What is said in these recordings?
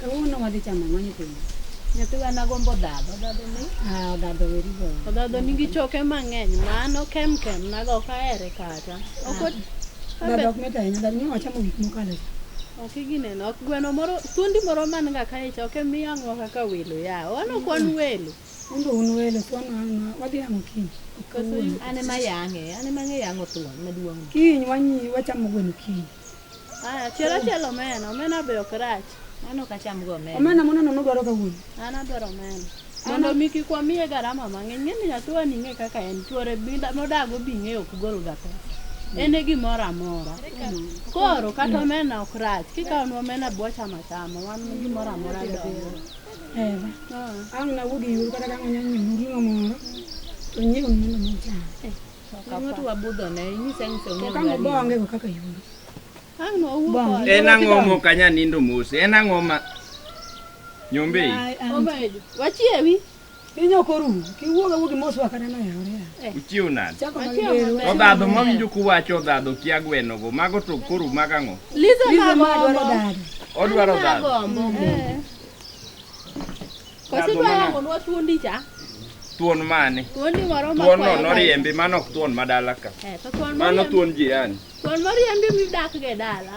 Kawuono wadhi chamo ang'o nyithindo? Nyathiwa nagombo dhadho, dhadho ni? Ah, dhadho weri go. Dhadho nigi choke mang'eny, mano kem kem nago ok ahere kata. Ok ah, dhadho ok mit ahinya, dhadho ni wachamo gik moko ale. Ok gineno, ok gweno moro, thundi moro man ga kae cha, ok miyo ang'o kaka welo ya. Wano kwan mm. welo. Undo un welo, kwan ang'o, wadhi ang'o kiny. Ane ma yang'e, ane ma ng'e yang'o thuon maduong'. Kiny wanyi, wachamo gweno kiny. Aya, chiel achiel omena, omena be ok rach. Mano ok acham go omena. Omena mona nono dwaro kawuono. An adwaro omena. Mondo mi kik wamiye garama mang'eny, ng'e ni nyathiwa ni ng'e kaka en chuore binda modago bi ng'e ok gol ga pesa. En e gimoro amora. Koro kata omena ok rach, kikawonwa omena be wachamo achama, wan gimoro amora dongo. Eva, Ah. ang' nawuog e yuru kata ka ang'onyo nyiewo ring'o moro, to nyiewo omena machamo. En ang'o mok anya nindo mos? En ang'o ma nyombe i? Wachiewi. Piny ok orum. Kiwuog awuog mos wakana na yawre. Uchiew nade? Odhadho ma winjo kuwacho odhadho kia gweno go. Mago to koro mag ang'o? Liza ma dwaro dada. Odwaro dhadho. thuon mane thuonno noriembi mano ok thuon madala ka eh, mano thuon jirani thuon moriembi midakga e dala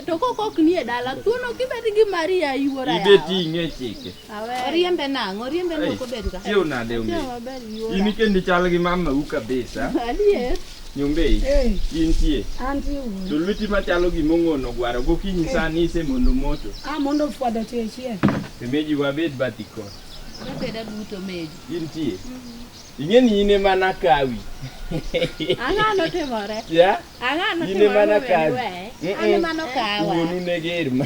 to kok ok ni e dala thuon ok ibed gi maria iwuora ibet ing'e chike oriembe nang'o oriembe nokobedga chieo nade in kendi chal gi mamau kabisa Nyombei, Eh, intie. anti wuoyi. To lweti machalo gima ong'ono gwaro gokinyi sani ise mondo moto. Ah, mondo ofwadho tie chiel. Emeji wabed bathi koni. Wabeda duto meji. Intie. Ing'e ni in ema nakawi. Ang'o notimore? Ya? Ang'o In notimore ema momiyo nakawi. iweye? Mm-mm. An ema nokawa. Wuonu ne ger ma.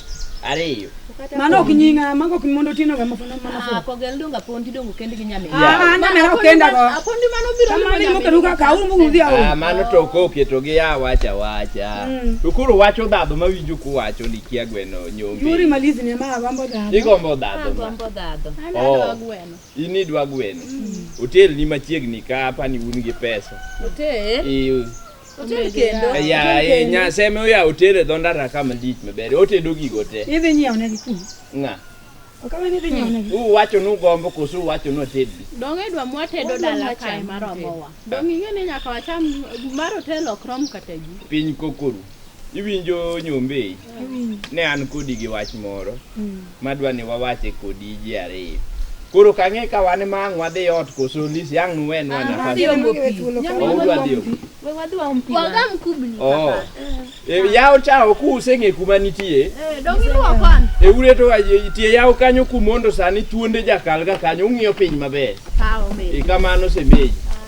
Ariyo. Mano ok nyinga, mago ok mondo tino ga mafuna mana fo. Ah, kogel donga pondi dongo kendi gi nyame. Ah, anda mera okenda go. Apondi mano biro ni mano moka ruka ka uru mugu dhia. Ah, mano to ko keto gi ya wacha wacha. Mm. To koro wacho dadho ma winjo ku wacho ni kia gweno nyombe. Yuri malizi ne ma gombo dadho. Igombo dadho. Ah, gombo dadho. Ana oh. dwa gweno. Ini dwa gweno. Mm. Hotel ni machiegni ka apa ni un gi pesa. Hotel. Eh. Yaye, nya seme oya otere dho ndara kama lich maber. Otedo gigo te. Idhi nyiewo ne gikun. Nga. Okawe ni dhi nyiewo ne. U wacho nu gombo koso wacho nu tedbi. Dong edwa mwa tedo dala kae maromo wa. Dong ing'e ni nyaka wacham mar hotel ok rom kata ji. Piny kokuru. Iwinjo nyombe. ne an kodi gi wach moro mm. madwa ni wawache kodi ji ariyo koro kang'e ka wan ma ang' wadhi ot koso lis yang' nuwen wan yaw chawo ku useng'e kuma nitie e ure to tie yaw kanyo ku mondo sani thuonde jakalga kanyo ung'iyo piny maber kamano semeji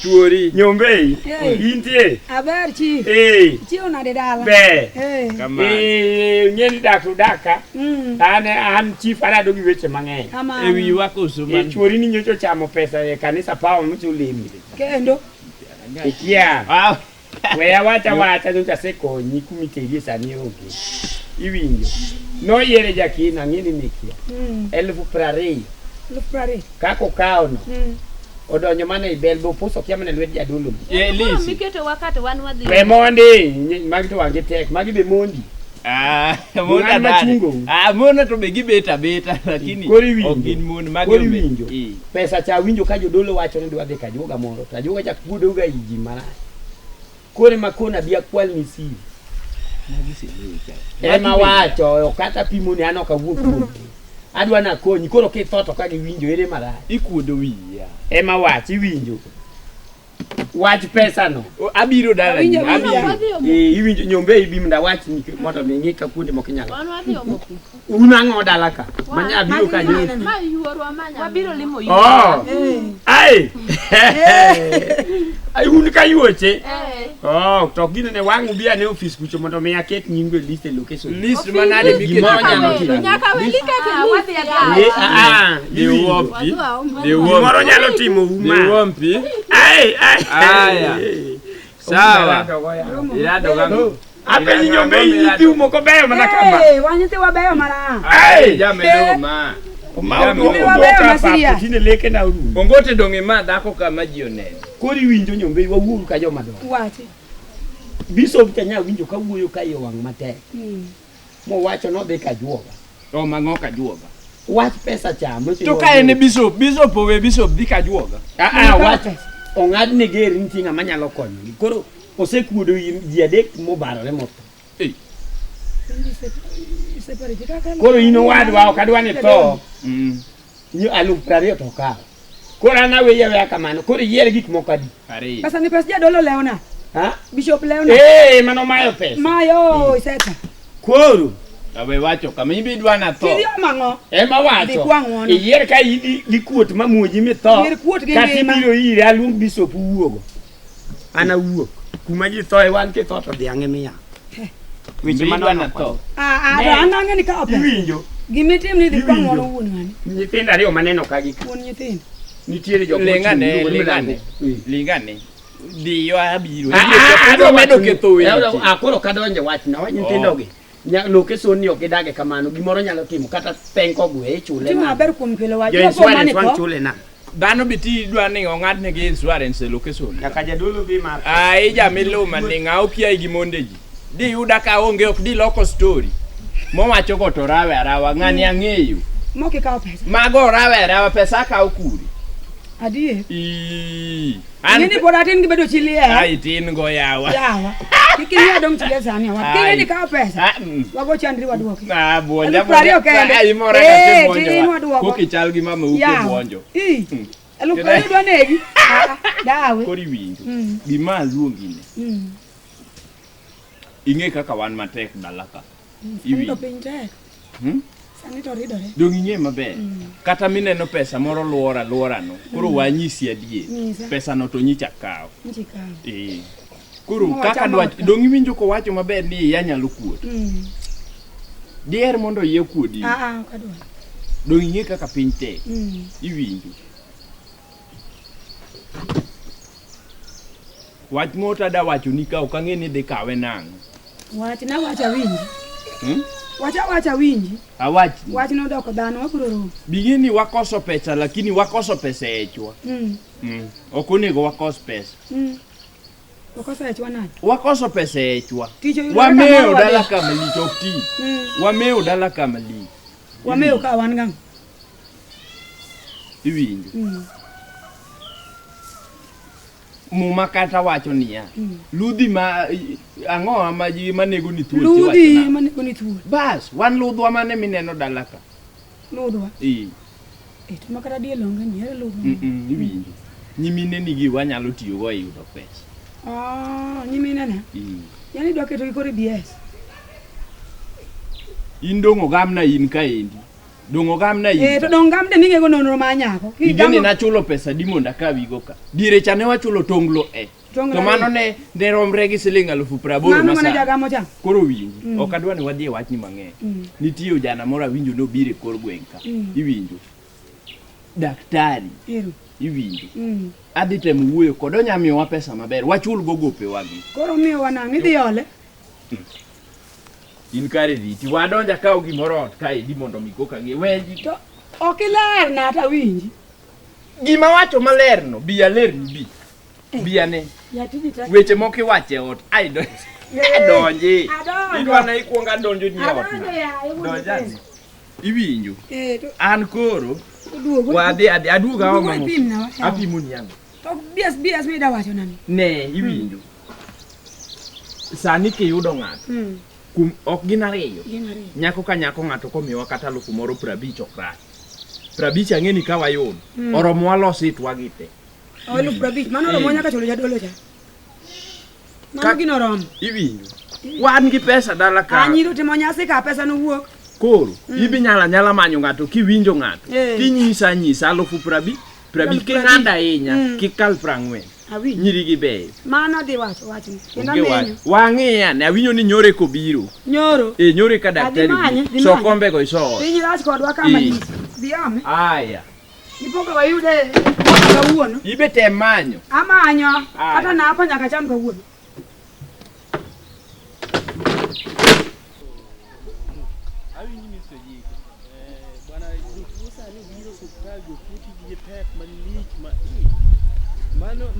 Chuori. Nyombei. Hey. Intie. Aber chi. Eh. Chi una de dala. Be. Eh. Kama. Eh, ngeni dak to daka. Mm. Ane an chief ana dogi weche mang'eny. Kama. E wi wako usuma. Eh, chuori ni nyocho chamo pesa e kanisa pawa mchulimi. Kendo. Ikia. Wow. we awacha wacha to tasekonyi kumiterie sani onge iwinjo noyiere jakin ang'e ni mikia Mm. elfu piero ariyo Elfu piero ariyo. kaka okawono Mm. odonjo mana e bel bopuso kia mana e lwet jadolo Koro miketo wakato wan wadhi. we mondi nye- magi to wange tek magi be mondi Ah, mon Ng'an adade. machungou. Ah, mon to be gibet abeta lakini Kori winjo. ok gin mon magi Kori omi- winjo. Eh. pesa cha winjo ka jodolo wacho ni dwa dhi kajuoga moro to ajuoga chak gudoga i ji marach kore ma kona bi akwal misiwi Magi selewi cha. ema Magi be- wacho ok kata pimo ni an ok awuok kuom adwa nakonyi koro kitho to ka giwinjo ere marach Ikuodo wiya. ema wach iwinjo wach pesa no abiro dala Awinjo, awinjo, abiro wadhi omo. Eh, iwinjo nyombe ibi mda wach ni moto mi ngi ka kuonde moko nyalo Wan wadhi omo pi. un ango dala ka manya abiro ka nyo Ma yuorwa ma nyalo. Wabiro limo oh ai ai un ka yuoche Eh. oh to gine ne wangu bia ne office kucho moto mi aket nyingo e list e location list manade Gimoro nyalo timo. Nyaka we like Ah, wadhi e list. adawa. Eh, ah, ah. Ni uompi. Watu waomba. Ni uompi. Moro nyalo timo uma. Ni uompi. Ai, ai. Aya. Sawa. Irado gangu. Hapa ni nyombe hii tu mko baya maana kama. Eh, wanyite wabeyo mara. Ai, jamedo uma. Uma Ni uompi. wabeyo Uompi masiria. hapa tine leke na uru. Ongote donge ma dhako kama ji oneno. Kori winjo nyombe wa uru ka joma do. Wache. Bishop tanya winjo ka wuoyo ka yo wang' matek. Mm. Mowacho nodhi ka juoga. To mang'o ka juoga? Wach pesa cha. To ka en bishop, bishop owe bishop dhi ka juoga. Ah, ah wach ong'ad ne ger nitie ng'ama nyalo konyogi. Koro osekuodo ji adek mobarore motho. Hey. Koro in owadwa ok adwa ni tho. Mm. Nyo aluf prariyo to okawo. Koro an aweye aweya kamano. Koro iyier gik moko adi? Ariyo. Pesa ni pes jadolo lewna. Ha? Bishop lewna. Eh, mano mayo pesa. Mayo iseta. Koro Awe wacho kama ibi dwa na tho. Kiri omang'o. ema wacho. Dhi kwa ng'wono. Iyier ka idi gi kuot mamuoji mitho. Yier kuot gi Kata ngima. ibiro ire aluong bishop uwuogo. An awuok. Kuma ji thoe wan kitho to dhiang' ema iyang'o. Weche Mbi manono dwana tho. Ah, ah, Ne. an ang'e ni ka ope. Iwinjo? Gima itim ni dhi kwa Iwinjo. ng'wono wuon mani. Nyithindo ariyo maneno ka gi Wuon nyithindo. nitiere jok Lingane, mochung' ni lingane, milango. lingane. Dhiyo abiro. Ah, Ibiro ah, ketho- adwa Ibiro medo wacho ni- ketho weche. Ah, koro kadonje wachna wa nyithindogi. Nya- Location ni ok gidage kamano, gimoro nyalo timo kata peng kogwe ichule Timo nang'o? maber kuom kelo wach. Jo Wapo insurance mane wang' tho. chule nang'o? Dhano be ti dwa ni ong'adnegi insurance e location. Nyaka jadolo dhi mar. Ai jamiluma ni ng'a okiai gi mondeji. Di yuda ka onge ok di loko story. Mowacho go to rawe arawa ng'ani ang'eyo. Moki kawo pesa. Mago rawe arawa pesa akawo kuri. Adier. Ii. Ngini pod atin gi bedo chilie. Ai tin go yawa. Yawa. Kiki ya dong chilie sani wa. Kiki ni ka pesa. Ah, mm. Wago chandri wadwok. Na buonja. Prario kende. Ai mora ka eh, buonjo. Eh, wadwok. Kuki chal gi mama uke buonjo. Ii. Hmm. Elu prario dwa negi. Ah, ah, dawe. Kori winjo. Hmm. Gima luongi ne. Hmm. Ing'e kaka wan matek dalaka. iwi hmm? donge ing'e maber mm. kata mineno pesa moro luoro aluorano koro mm. wanyisi adier pesano to nyicha kawo eh. koro kaka dwach donge iwinjo kowacho maber ni iya nyalo kuot mm. diher mondo iye kuodi ah, ah, donge ing'e kaka piny tek iwinjo Wach mota da wacho ni ka ok ang'e ni dhi kawe nang'o. Wach na wacha winji. Hmm? Wacha wacha winji. Awach. Wach na odoko dhano wabiro romo. Bigini wakoso pesa lakini wakoso pesa echwa. Mm. Mm. Ok onego wakos pesa. Mm. Wakoso echwa nani? Wakoso pesa echwa. Wameyo dala kama lich ok ti. Mm. Wameyo dala kama lich. Wameyo ka wan gang. iwinjo mm. muma kata wacho niya mm. ludhi ma ang'owa ma ji manego ni thuol ludhi manego ni thuol bas wan ludhwa mane mineno dalaka ludhwa eh e to makata diel onge ni ere ludhwa mm -mm, iwinjo nyimine nigi wanyalo tiyo go e yudo pesa ah nyimine ne mm. yani dwa keto gi kore BS in dong' ogamna in kaendi Dongo gam na Eh, to dongo gam de ninge go nonro ma nyako. Ki gam ni nachulo pesa di monda ka wigo ka. Dire chane wachulo tonglo e. Eh. To mano ne ne romre gi siling alufu praboro masa. Mano mana jagamo cha. Koro winjo. Mm. Ok adwa ni wadhi e wach ni mang'eny. Mm. Nitie ojana moro awinjo ni obiro e kor gweng' ka. Mm. Iwinjo. Daktari. Ero. Iwinjo. Mm. Adhi temo wuoyo kod onyamiyowa pesa maber. Wachul go gope wagi. Koro miyowa nang'o? Idhi ole? In kare riti, wadonja kawo gimoro ot kae di mondo mi koka ng'e weji. To ok iler na ata winji. Gima wacho maler no, bi aler ni bi. Eh. Bi ane. Weche moko iwacho e ot, ai donji. Eh, adonji. Idwa na ikuonga donjo ni ot. Donja. Iwinjo. Eh, An koro. Wadhi adhi aduoga omo. Apimo ni yangu. To bias bias mi da wacho nani? Ne iwinjo. Sani kiyudo ng'ato. Mm. Kum ok gin ariyo. Gin ariyo. Nyako ka nyako ng'ato komiwa kata alufu moro prabich ok rach. Prabich ang'e ni kawa yud. Mm. Oromo walos itwa gi te. Alufu prabich mano oromo nyaka chulo jadolo cha. Mano gin oromo. Iwinjo. Wan gi pesa dala ka. Anyiro timo nyasi ka pesa no wuok. Koro, mm. ibi nyala nyala manyo ng'ato kiwinjo ng'ato. Hey. Eh. Kinyisa nyisa alufu prabich. Prabich kik handa ahinya, mm. kik kal prang'wen. Awinjo. Nyiri gi beyo. Mano dhi wacho wacho. Kendo amenyo. Wang'iya ne awinyo ni nyore kobiro. Nyoro. Eh nyore ka daktari. Adimanye. So kombe go iso. Piny rach kodwa kama ni. Biame. Aya. Ipoka wayude. Kawuono. Ibe tem manyo. Amanyo. Kata na apa nyaka cham kawuono.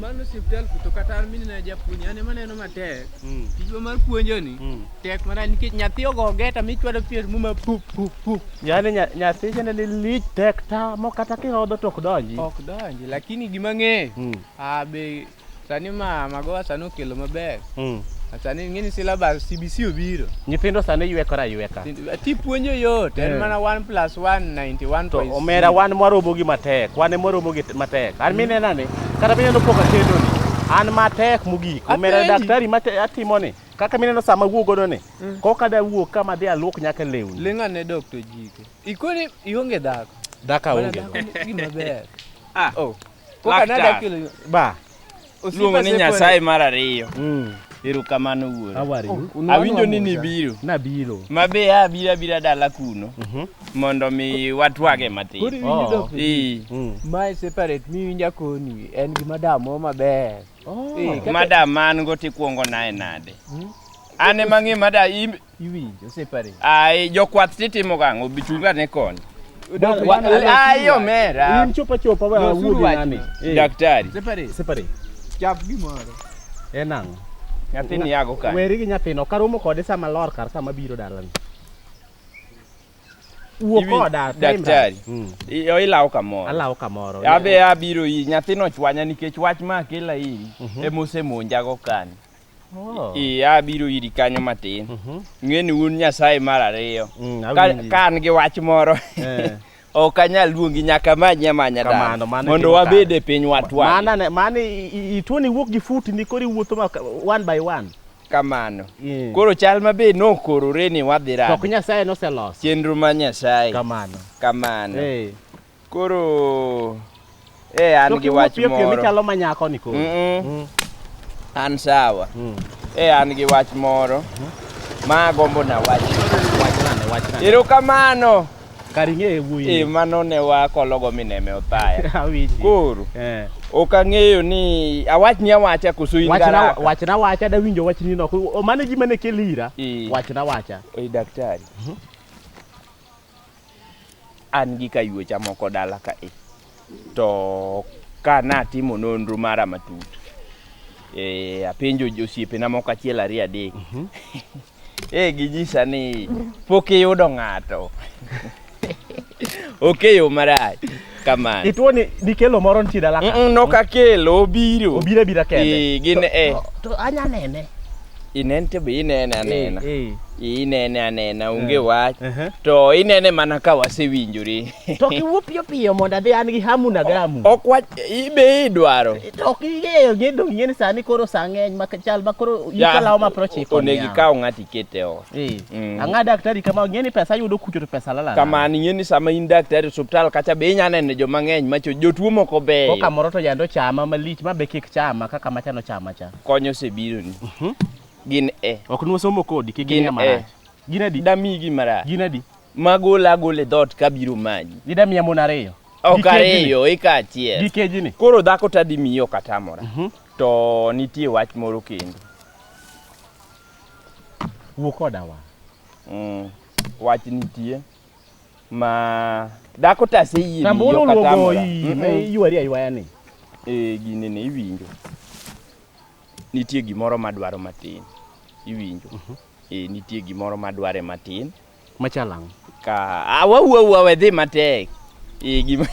mano siptal kuto kata mine na japuonj an ema neno matek mm. tijwa mar puonjoni mm. tek mana nikech nyathi ogo geta michwado pier muma pup pup pup yani nyathi chende ni lich tek ta mo kata kihodho to ok donji ok donji lakini gima ng'eyo mm. a be Sani ma magowa sani okelo maber. Mm. Sani ing'eni syllabus CBC obiro. Nyithindo sani ywekore ayweka. Ti puonjo yot, en mana 1 plus 1 91. To omera wan mwaromo gi matek, wan mwaromo gi matek. An minena ni, kata mineno poka kendo ni, an matek mogik. Omera daktari ma atimo ni, kaka mineno sama wuo godo ni, mm. koka da wuo kama dhi aluok nyaka lewni. Lenga ne Dr. Jike. Ikoni ionge dhako. Dhaka onge. Gima ber. Ah. Oh. Koka nada Laktar. kilo ba. Luongo ni Nyasaye mar ariyo. Mm. Erokamano wuoro. How are you? Oh, Awinjo ni nibiro. Nabiro. Mabe abira bira dala kuno. Mhm. Mondo mi watwage matin. Kuri winjo Oh. dok. Ee. Mm. My separate mi winja koni en gi madam mo maber. Oh. Eh, kaka- Madam man go tikwongo naye nade? An ema ng'e madam im- Iwinjo, osepare. Ai, jokwath titimo gang'o? Bichunga ne koni. Dok- Wa- Dok- Ai, omera. In chopa chopa we Los awuo gi wach. nani. Eh, Daktari. Osepare. Osepare. Chap gimoro. En ang'o? Nyathini yago ka. Weri gi nyathino karomo kode sama lor kar sama biro dalani. Wuo Iwi- koda. time Daktari. rach. Mm. Iyo ilawo kamoro. Alawo kamoro. Abe abiro yi nyathino chwanya nikech wach ma akela iri Mhm. emosemonjago kani. Oh. Iya abiro iri kanyo matin. Mhm. Ng'e ni un Nyasaye mar ariyo. Mm, Ka awinji. ka an gi wach moro. Eh. Ok anyal luongi nyaka manya manya da. Kamano, mano e Mondo gima wabed kare. e piny watwa. Mana ne mani i- i- ituoni wuok gi futi ni kori wuotho ma one by one. Kamano. Mm. Koro chal mabe nokorore ni wadhi To ok rado. Nyasaye noseloso. Chenro ma Nyasaye. Kamano. Kamano. Eh. Koro eh an gi wach moro. Piyo michalo manyako ni koro. Mm. An sawa. Mm. Eh an gi wach moro. Mm-hmm. Ma gombo na wach. Wach nane wach nane. Erokamano. Karinge e wuyi. Eh mano ne wa kologo mineme otaya. Awinji. Koro. Eh. ok ang'eyo ni awach ni awacha koso in garaka wach na wacha da winjo wach ni no mane gima ne kelira wach na wacha oi daktari mhm. an gi kaywecha moko dala ka e to ka natimo nonro mara matut e, apenjo osiepena moko achiel ariyo adek mhm. e ginyisa ni pok iyudo ng'ato ok e yo marach Kamano. Ituoni dikelo moro nitie dala ka. Mm, mm, Nok akelo, obiro. Obiro abira kende. Eh, gin eh. To anya nene. Inen to be inene anena. Eh, eh. Inene anena, onge Eh. wach. Ehe. To inene mana ka wasewinjore. To kiwuo piyo piyo mondo adhi an gi hamu na gamu. Ok wach, ibe idwaro. To ok ing'eyo ng'edo ng'eni sani koro saa ng'eny ma chal ma koro Ya, ikalawo ma prochiko. onego ikaw ng'ato ikete ot. Eh, mm. Ang'a daktari kama ng'eni pesa yudo kucho to pesa lala. Kama ni ng'eni sama in daktari hospital kacha be inya nene jo mang'eny macho jotuo moko be. Koka moro to jando chama malich ma be kik chama kaka macha no chama cha. Konyo se biro ni. Mm -hmm. Gin e. Ok nuo somo kodi ki gin ma. E. Gin adi? Dami gi mara. Gin adi? Magola gole dot kabiro maji. Gida mia mon ariyo. Ok ariyo ika achiel. Gikeji ni. Koro dhako tadi miyo katamora. Mm -hmm. To nitie wach moro kendo. Wuo koda wa. Mm, wach nitie ma dhako to aseyie Tambolo wiyo kata luogo amora. i Mm-mm. me yuari aywaya ni. Eh, gini ni iwinjo nitie gimoro madwaro matin iwinjo eh, nitie gimoro madware matin Machalo ang'o? Ka awuo awuo we dhi matek. Ee gima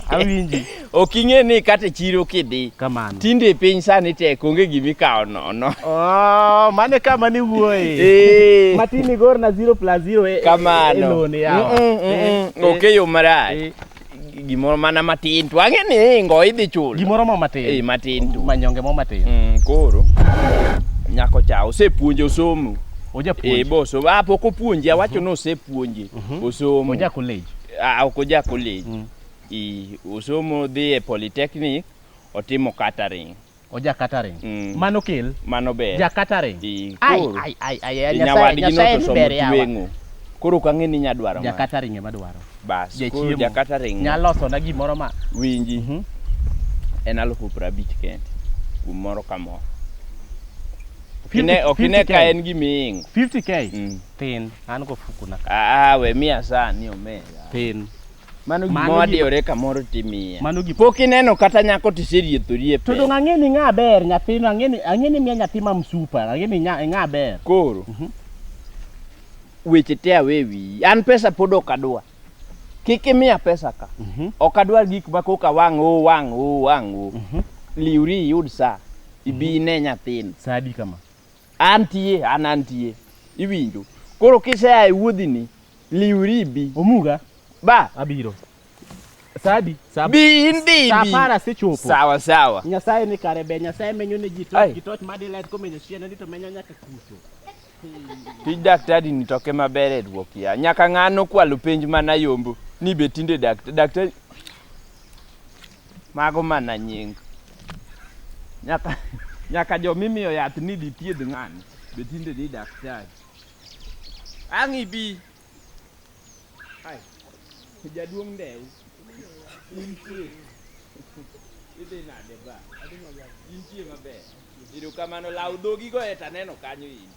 Awinji. ok ing'e ni kata e chiro kidhi Kamano. tinde piny sani tek onge gima ikawo nono. Oh, mane kama ni wuoye. Ee. Matin igorna 0 plus 0 e- e- Kamano. elone yawa. Mm, mm, mm, Eh, mm. eh, Ok e yo marach. eh. gimoro mana matin to ang'e ni ingo idhi chulo gimoro mo matin eh matin tu manyonge mo matin mm, koro nyako cha osepuonjo osomo ojapuonje eh bo so ah pok opuonje awacho ni osepuonje mhm. osomo oja college ah ok oja college mm. i osomo dhi e polytechnic otimo catering Oja catering. Mm. Mano kel. Mano ber. Ja catering. Ii, Ai koro. ai ai ai ai, Nyasaye Nyawadgi Nyasaye ni notosomo ber yawa. tweng'o. Koro ok ang'e ni inya dwaro Ja mano. catering ema dwaro. Bas, koro Jachiemo. ja catering Nya loso na gimoro ma winji Mhm. en alufu piero abich kende kuom moro ka moro. Ok ine- 50 ok ine ka 50K. en gi miingo. 50k. Mm. Tin. An go fuku na. Ah, we mia sani omera. Tin. Mano Mano gima wadiyore kamoro timiya. Mano gi Pok ineno kata nyako tiseriethori e to dong' pesa. ang'e ni ng'a ber nyathino ang'e ni ang'e ni miya nyathi ma msupa ang'e ni nya- ng'a ber Koro weche te awe wiyi. An pesa pod ok adwa. Kik imiya pesa ka. Mhm. Ok adwar gik ma koka wang' o wang' o wang' o. Liwri iyud sa. Ibi ine nyathino. sadi kama Antie, an antie. Iwinjo. Koro kisea e wuodhini, liwri ibi. Omuga. Ba. Abiro. Sadi, sab. Bi in bi. Sapara sichopo. Sawa sawa. Nyasaye ni kare be Nyasaye menyo ne ji to ji to madi light ko menyo chieno ni to menyo nyaka kucho. Tij daktari ni toke maber e duok ya. Nyaka ng'ano kwalo penj mana yombo. Ni be tinde daktari Mago mana nying. Nyaka nyaka jo mimiyo yath ni dithiedh ng'ani be tinde ni daktari. Ang' ibi. Ai. Jaduong' ndew. Intie. Idhi nade ba? Intie maber. Erokamano law dhogi go e taneno kanyo in.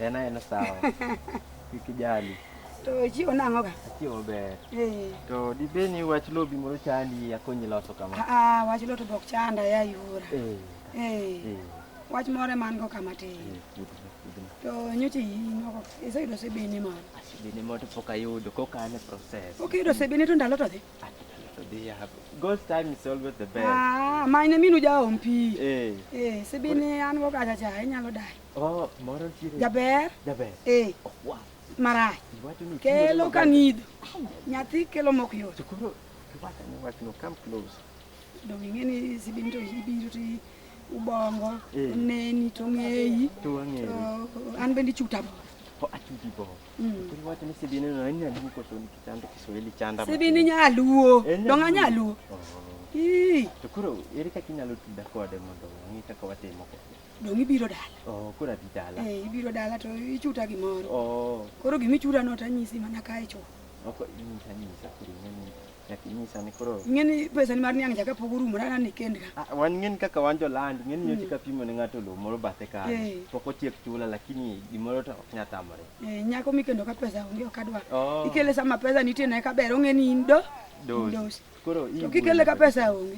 En aena sawa. Kik ijali. To ichiewo nang'o ka? Achiewo maber. Eh. To dibe ni wach lobi moro chandi akonyi loso kama? Ah, wach loto bok chanda ya yura. Eh. Eh. eh. Wach moro man go kama ti. Eh, to nyocha in oko iseyudo sebene moro? Sebene moro to pok ayudo, kok an e process. Pok iyudo sebene to ndalo to dhi? God's time is always the best. Ah, mine minu ja ompi. Eh. Eh, sebene an go kacha cha inyalo dai. Oh, moro ntiere. Jaber. Jaber. Eh. Oh, wow. Marach. Iwacho ni kelo kang'ido. Nyathi kelo mok yot. To koro iwacho ni wach no come close. Dong ing'e ni sibini to ibiro to ubongo, Eh. uneni to ng'eyi. To wang'eyi. To an bende ichuta bo. Oh, achuti bo. Mm. Koro iwacho ni sibini no en nyaluo koso ni kichando Kiswahili chanda. ma- Sibini nyaluo. En Dong a nyaluo. Oh. Ii. To koro ere kaka inyalo tuda kode mondo ong'e kaka watimo kode? dong' ibiro dala oh, koro abi dala eh, ibiro dala to ichuta gimoro oh. koro gima ichuta no tanyisi mana kae cho ing'eni pesa ni mar niang' chaka pok orumore ana ni kend ka ah, wan ng'eni kaka wan joland ng'eni nyocha mm. kapimo ne ng'ato lowo moro bathe kanyo eh. pok otiek chula lakini gimoro to ok nyal tamore eh, nyako mikendo ka pesa onge ok adwar oh. ikele sama pesa nitie nae kaber ong'eni in do dos koro kikele ka pesa onge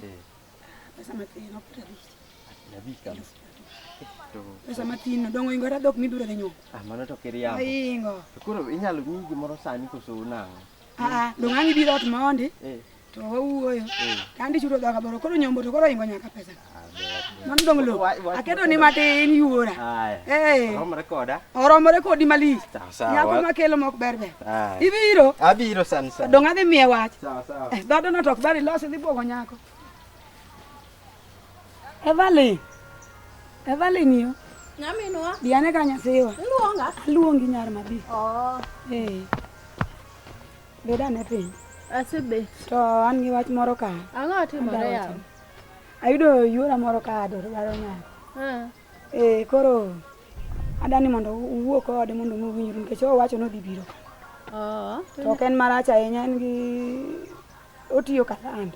Pesa matin ok pira bich. Na bich kama. To Pesa matin no dongo ingo radok ni dura nyuok. ah mano to kiriambo. Ingo. To koro inyalo miyi gimoro sani koso nang'o? Ah, dongo angi biro ot mondi. Eh. To wawuoyo. Eh. Kandi chudo doka boro koro nyombo to koro ingo nyaka pesa. Ah, ber. Mano dongo lo. Wa- wa- Aketo ni matin yuora. Haya. Eh. Romre koda. Oromore kodi malich. Sawa sawa. Nyako makelo mok ber ber. Haya. Ibiro. Abiro san san. Dongo adhi miye wach. Sawa sawa. Eh, Dhodo no to ok ber ilosi dhi bwogo nyako. Evelyn. Evelyn yo. Nyaminwa. Diane ka nyasiwa. Iluonga? Aluongi nyar mabi. Oh. Eh. Beda ne piny. Asebet. To an gi wach moro ka. Ang'o atimore yawo? Ayudo yuora moro ka adoro dwaro nyar. Eh. Eh, koro adani mondo uwuo kode mondo muwinjru nikech owacho nodhi biro ka. Oh. To ok en marach ahinya en gi Otiyo Kaland.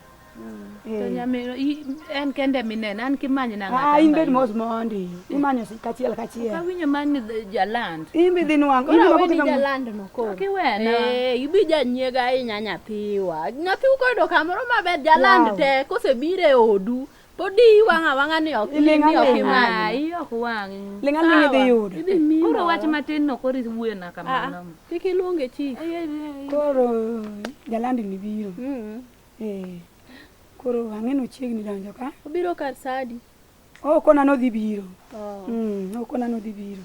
Eh. To nyamero i- en kende mineno an kimany na Ah, in bed mos mondi. Imanyo si kachiel kachiel. Kawinyo man ni the- jaland. In bidhi nwang'. Koro awe ni jalandno koro. Kiwena. Eh, ibi janyiega ahinya nyathiwa. Nyathiu koyudo kamoro maber jaland Wow. te kosebiro e odu Pod iwang' awang'a ni ok Iling' ni ok aling'. iwang'. Ah, iyi ok wang'. Ling' aling' idhi Sawa. yudo. Idhi miyi Koro moro. wach matin no koro iwuona Ah, ah. kamano. Kik iluonge chief. Koro jalandi ni biro. Mm. Eh. Koro ang'e ni ochiegni donjo ka. Obiro kar sadi. Okona nodhi biro. Oh. Mm, okona nodhi biro.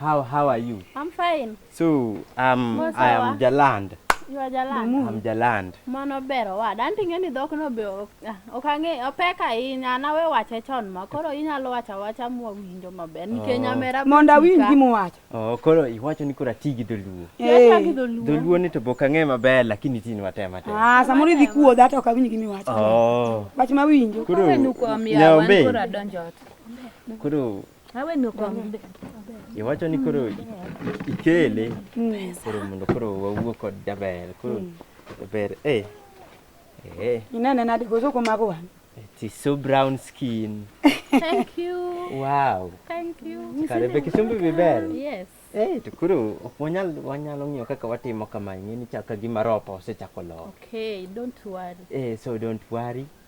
How how are you? I'm fine. So um Mo I sawa. am Jaland. You are Jalan. I'm Jaland. Mano ber owada. An ting'e ni dhokno be ok ah, ok ang'e opek ahinya. An awe wache chon ma koro inyalo wacha wacha mwawinjo maber nikech Oh. nyamera. Mondo awinj gima uwacho. Oh koro iwacho ni koro ati gi dholuo. Yachwa gi dholuo. Dholuo ni to be ok ang'e maber lakini tin watema te. Ah, samoro idhi kuodha to ok awinj gima iwacho. Oh. Wach ma winjo. Koro Koro nuko miya wan Nyaombe. koro adonjo ot. koro Aweni okonyo be. Iwacho ni koro ikele koro mondo koro wawuo kod jaber koro jaber eh eh Inene nade koso komako wang'. it is so brown skin Thank you. wow Thank you. kare be kisumbi be ber Yes. eh to koro ok wanyal wanyalo ng'iyo kaka watimo kama ing'e ni chaka gima ropa osechako lowo Okay, don't worry. eh so don't worry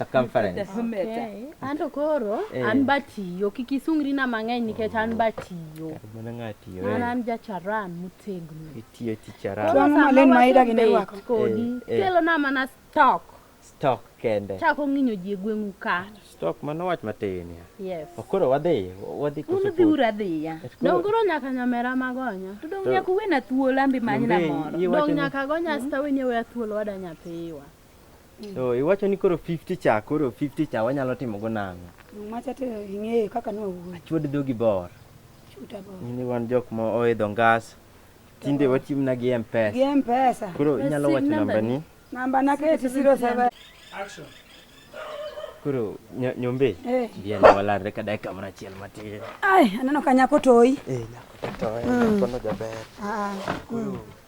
circumference anto koro eh. an batiyo kik isungri na mang'eny nikech an batiyo an an jacharan motegno kodi eh, kelo na mana stock stock kende chako ng'inyo ji e gweng'u ka stock mano wach matin yes okoro wadhi wadhi kuno dhi ura dhi ya dong koro nyaka nyamera magonya to dong nyaka wena thuolo ambi manyna moro dong nyaka gonya stawe ni we thuolo wada nyathiwa So iwacho ni koro 50 cha koro 50 cha wanyalo timo go nang'o? Macha to ing'eyo kaka nwawuoyo. Chwod dhogi bor. Chuta bo. Ni wan jok ma oidho ngas. Tinde watimna gi M-Pesa. Gi M-Pesa. Koro inyalo wacho namba ni. Namba na keti 07. Action. Koro nyo- nyombe Eh. bia na walarre ka dakika moro achiel matin. Ai, aneno ka nyako toyi. Eh, nyako to eh, nyako no jaber. Ah, mm.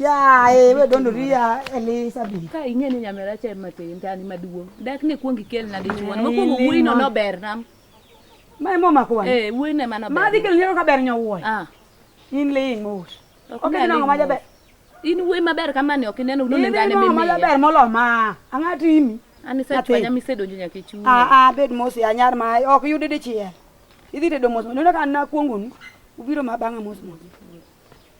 Yaye we dondori ya Elizabeth. Ka ing'e ni nyamera cha ema tin tani maduong'. Dak ne kuong ikelna dichuo. Mokuongo wuoyi no nober nam. Ma emo mako wan. Eh, wuoyi ne mano ber. Ma dhi kelni ka ber nyowuoyi. Ah. In le in mos. Ok ne nango ma jaber. In wuoyi maber kamani ok ineno ulo ne ngane mimi. In ma jaber molo ma. Ang'a timi. Ani sa chwanya mi sedonjo nyaka chuo. Ah ah bed mos ya nyar ma ok yude dichiel. Idhi tedo mos. Neno ka na kuongonu. Ubiro ma bang'a mos mos.